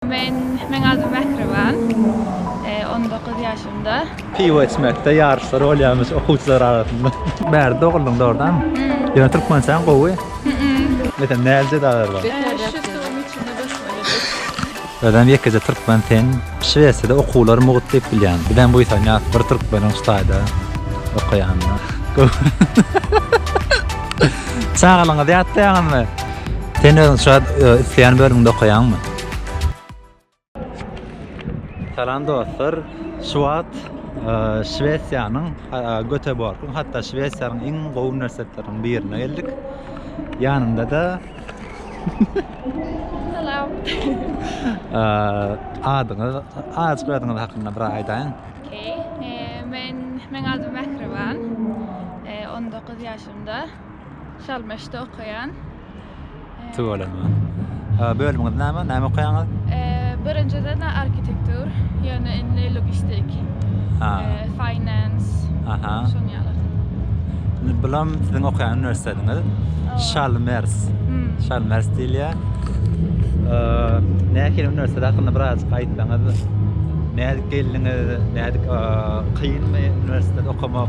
Men Meň adym Mähriban. On dokuz ýaşymda. Piwo içmekde ýaryşlar bolýarmyş okuwçylar arasynda. Bärde doguldym dogrydanmy? Ýöne türkmençäň gowy. Metan nälje dalar bar. Şu suwuň içinde basmalydyr. Özem ýekeje türkmen sen. Şwesiýada okuwlar mugt diýip bilýän. Bizem buýsanýas bir türkmeniň Hytaýda okaýanyna. Çagalygyňyzy ýatlaýaňyzmy? Sen özüň şu wagt isleýän bölümde okaýaňmy? Salam dostlar. Şu wagt e, Şwesiýanyň e, Göteborgyň, hatda Şwesiýanyň iň gowy uniwersitetleriniň birine geldik. Ýanymda da Salam. e, adyňyz, adyňyz soýadyňyz hakynda bir aýdaýyň. Okey. Ee, men men adım Mähriban. Ee, 19 yaşımda. Şalmeşde okaýan. Tuwalaman. Ha, bölümiňiz näme? Näme okaýaňyz? Birinjiden arhitektur, ýöne indi logistik. Ha. Finance. Aha. Şoň ýaly. Indi bulam siziň okaýan uniwersitetiňiz. Şalmers. Şalmers diýilýär. Nähili uniwersitet hakynda biraz aýtsaňyz? Nädip geldiňiz? Nädip kynmy uniwersitet okamak?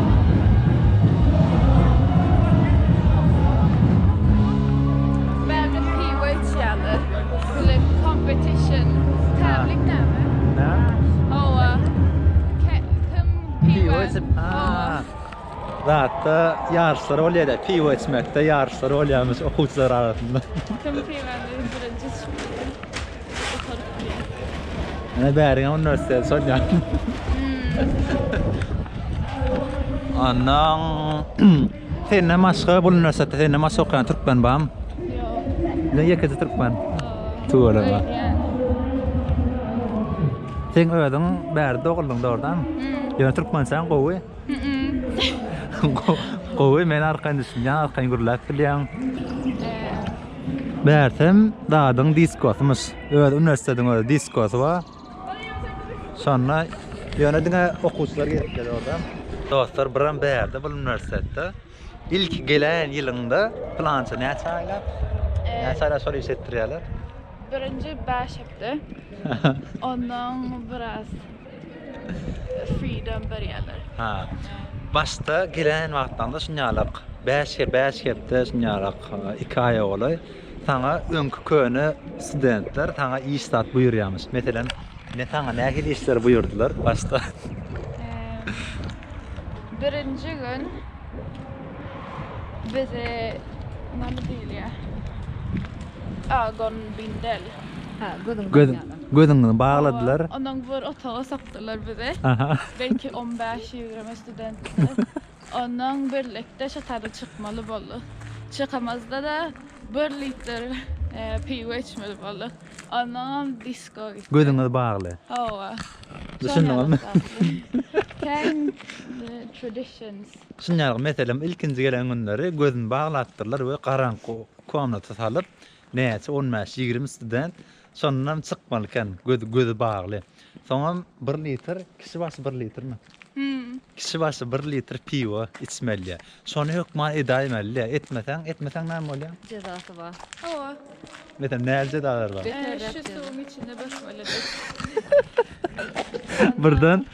Zatda ýaryşlar bolýar-da, piwo içmekde ýaryşlar bolýarmyş okuwçylar arasynda. Kim piwany birinji içipdi? Ana bäriň üniversitet sonýan. Andan senden başga bu üniversitete senden başga okaýan türkmen bam. Ne ýekeje türkmen. Tuwala ba. Sen özüň bärde doguldyň dogrudanmy? Ýöne türkmençäň gowy. Gowy men arkaýyn düşünýän arkaýyn gürläp bilýän. Bärsem dadyň diskosymyş. Öz uniwersitetiň öz diskosy bar. Şonda ýöne diňe okuwçylar gelip gelýär orada. Dostlar biram bärde bul uniwersitetde. Ilki gelen ýylyňda plança näçe aýlap? Näçe aýlap şol iş etdirýärler? Birinji 5 hepde. Ondan biraz Freedom berýärler. Ha. Başda gelen wagtlaňda şunýalak, bäş ge bäş hepde şunýalak, iki aýa golaý saňa öňki köne studentler saňa iş zat buýurýarmyş. Meselem, ne saňa nähili işleri buýurdylar başda? Birinji gün bize näme diýilýär? Agon bindel. Ha, gözüň Göz- barýaga. Gözüňizi bagladylar. Hawa, onuň bir otaga sokdular bizi. Belki on bäş, ýigrimi studentdi. Onuň birlikde şo tarda çykmaly bolduk. Çykamyzda-da bir litr piwo içmeli bolduk. Onnoňam disko gitdik. Gözüňiz bagly. Hawa. Düşündiňizmi? Käýin traditions. Şuny ýaly meselem ilkinji gelen günleri gözüni baglapdyrlar we garaňky komnata salyp näçe on bäş, ýigrimi student Şondan çykmaly eken gözi gözi bagly. Soňam bir litr kişi başy bir litrmi? Hüm. Kişi başy bir litr piwo içmelýä. Şony hökman edäýmelidä. Etmeseň, etmeseň näme bolýa? Jezasy bar. Hawa. Metem näli jezalar bar? Beterräk Şu jeza. suwuň içinde bökmelidir. Birden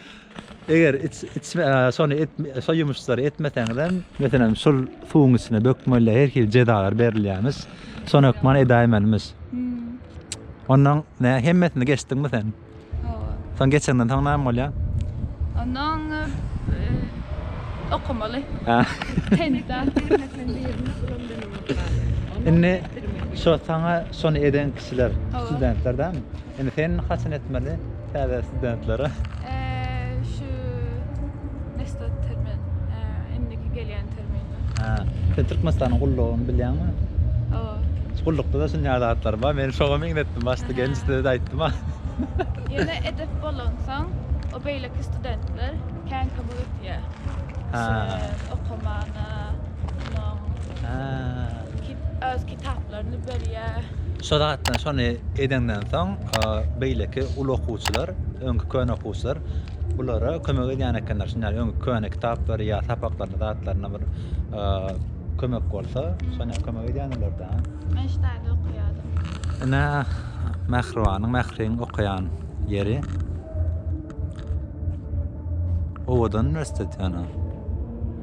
Eger şony şo ýumuşlary etmeseňizem. Meselem şol suwuň içine bökmeli her hili jezalar berilýämiş. Şony hökman edäýmelimiş. Onnoň nä hemmesini geçdiňmi sen? Hawa. Soň geçenden soň näme bolýa? Onnoň okamaly. Indi şo saňa şony eden kişiler studentler dämi? Indi sen haçan etmeli? Täze studentlere. Şu Nestor termin. Indiki gelýän termin. Hä. Sen Türkmenistanyň gullugyny bilýäňmi? Hawa. Gullukda-da şunýa zatlar bar. Men şoňa meňzetdim başda gelinjde-de aýtdym. Ýöne edep bolansoň, o beýleki studentler kän kömek etýär. Şeýle okamana, şonuň. Hä. Öz kitap. ýaşlaryny berýär. Şo zatdan şony edeňden soň beýleki uly okuwçylar, öňki köne okuwçylar bulara kömek edýän ekenler. Şunda ýaly öňki köne kitaplary ýa sapaklaryna zatlaryna bir kömek bolsa, şony ýaly kömek edýändirler-dä. Men ştaýda okaýadym. Ine Mähribanyň, Mähriň okaýan ýeri. Owadan uniwersitet ýöne.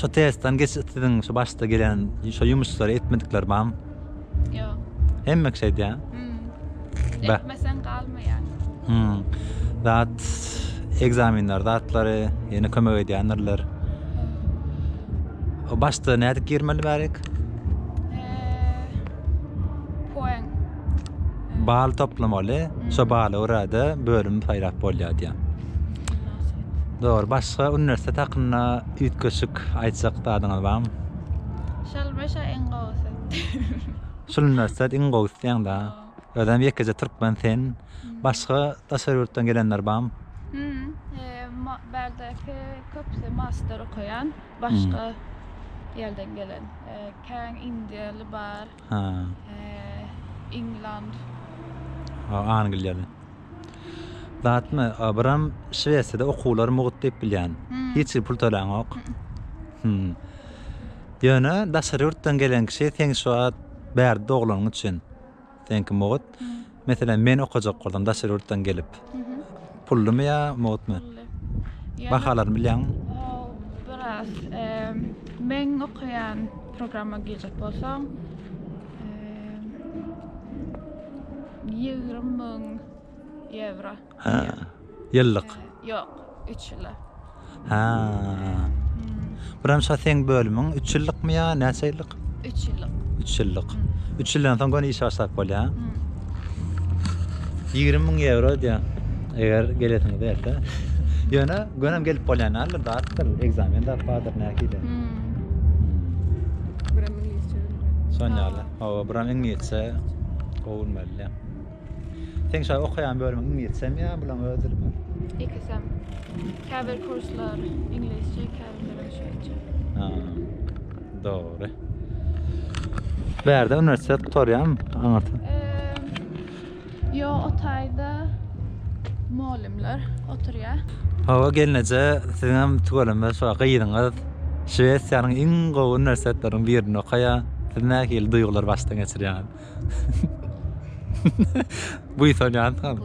Şu testden geçip siziň şu başda gelen şu ýumuşlary etmedikler barmy? Ýok. Hemmek şey diýä. Hmm. Etmesen galmaýar. Hmm. Zat egzaminler zatlary ýene kömek edýändirler. O başda nädip girmeli bärik? Bal toplamaly, şo bala görä-de bölüm saýlap bolýar diýýär. Dogry, başga uniwersitet hakynda üýtgeşik aýtjak zadyňyz barmy? Şol başa iň gowusy. Şol uniwersitet iň gowusy diýýäň-dä. Özem ýekeje türkmen sen. Başga daşary ýurtdan gelenler barmy? Bärdäki köpüsi master okaýan, başga ýerden gelen. Kän indiýaly bar. Ha. Eee, England. Ha, Angliýaly. Zatmy, Abram, Şwesiýada okuwlar mugt diýip bilýän. Hiç hili pul töläňok. Hüm. Ýöne daşary ýurtdan gelen kişi seň şu wagt bärde doglanyň üçin. Seňki mugt. Meselem, men okajak boldum daşary ýurtdan gelip. Pullymy ýa mugtmy? Bahalaryny bilýäňmi? Biraz. Men okaýan programma girjek bolsaň, ýigrimi müň ýewro. Hä. Ýyllyk. Ýok, üç ýyla. Hä. Birinji seň bölümiň üç ýyllykmy ýa näçe ýyllyk? Üç ýyllyk. Üç ýyllyk. Üç ýyldan soň göni işe başlap bolýar. Ýigrimi müň ýewro diýýär. Eger gelesiňi berse. Ýöne gönem gelip bolýan däldir, datdyr, ekzamen zat bardyr nähili. Şonýaly. Hawa, buram iňlisçe gowulmaly. Seň şa okaýan bölümiň iňlisçemi ýa bulaň öz dilimi? Ikisem. Käbir kurslar iňlisçe, käbirlerem şweýtçe. Ha. Dogry. Bärde uniwersitet gutarýam aňyrty. Yo, o taýda mugallymlar oturýar. Hawa gelneje, siziňem tüweleme şu gyzyňyz Şwesiýanyň iň gowy uniwersitetleriniň birinde okaýar. Siz nähili duýgulary başdan geçirýäňiz? Buýsanýan tam.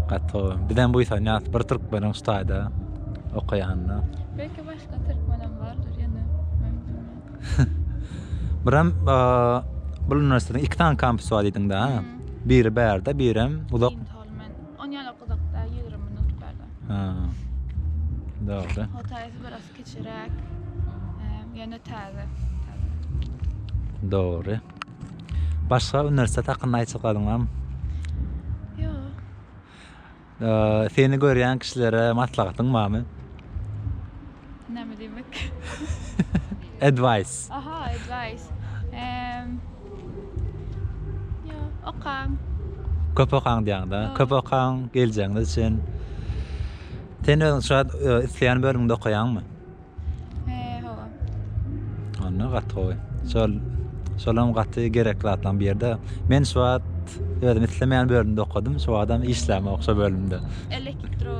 Gato. Bizden buýsanýan bir türkmeniň ştaýda okaýanyna. Belki başga türkmenem bardyr ýene. Biram bu uniwersitetiň iki tane kampusy bar diýdiň da. Biri bärde, birem uzak. Onýan okudakda 20 minut bärde. Ha. Dogry. Hotaýsy biraz Kiçiräk. Eee, ýöne täze. Dogry. Başga uniwersitet hakynda aýtjak galyňam? Ýok. Eee, seni görýän kişilere maslahatyň barmy? Näme diýmek? Advice. Aha, advice. Eee, ýok, okaň. Köp okaň diýýäň-dä. Köp okaň, geljegiňiz üçin. Sen özüň şu wagt isleýän bölümiňde okaýaňmy? He, hawa. Onda gaty gowy. Şol şolam gaty gerekli zatlaryň biri de. Men şu wagt özüm islemeýän bölümde okadym. Şu wagtam işlänok şo bölümde. Elektro.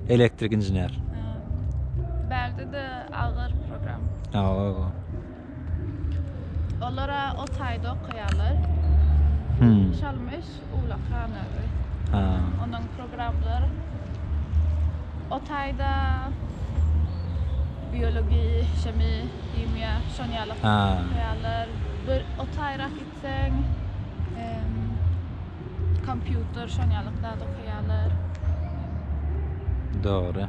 Elektrik inžener. Bagda da agyr program. Hawa. Olara o taýda okaýarlar. Hmm. Şalmyş, Ulakan özi. Ha. Onuň programlary o taýda biologiýa, şemi, himiýa, şon ýaly okuýarlar. Bir o taýrak gitseň, kompýuter, şon ýaly zat okuýarlar. Dogry.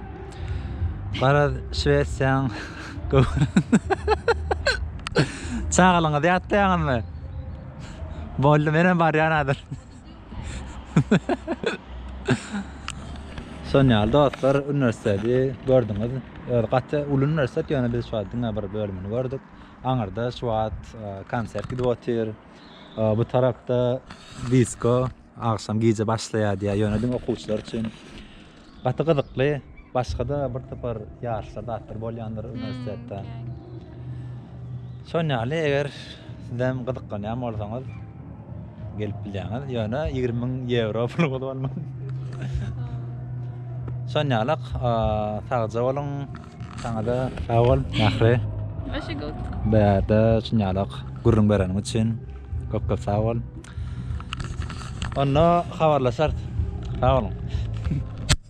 Garaz, Şwesiýaň Çagalaňyzy ýatlaýaňyzmy? Boldy, menem barýan hazir. Şon ýaly dostlar, uniwersiteti gördüňiz. Özi gaty uly uniwersitet, ýöne biz şu wagt diňe bir bölümini gördük. Aňyrda şu wagt konsert gidip otyr. Bu tarapda disko agşam gije başlaýar diýýär, ýöne diňe okuwçylar üçin. Gaty gyzykly. Başgada bir topar ýaryşlar zatlar bolýandyr uniwersitetde. Şon ýaly eger sizem gyzyklanýan bolsaňyz gelip bilýäňiz. Ýöne 20 müň ýewro pul bolman. Şon ýaly sagja boluň. Saňada sag bol Mähri. Başa gowt. Bärde şon ýaly gürrüň bereniň üçin. Köp köp sag bol. Onda habarlaşarys. Sag boluň.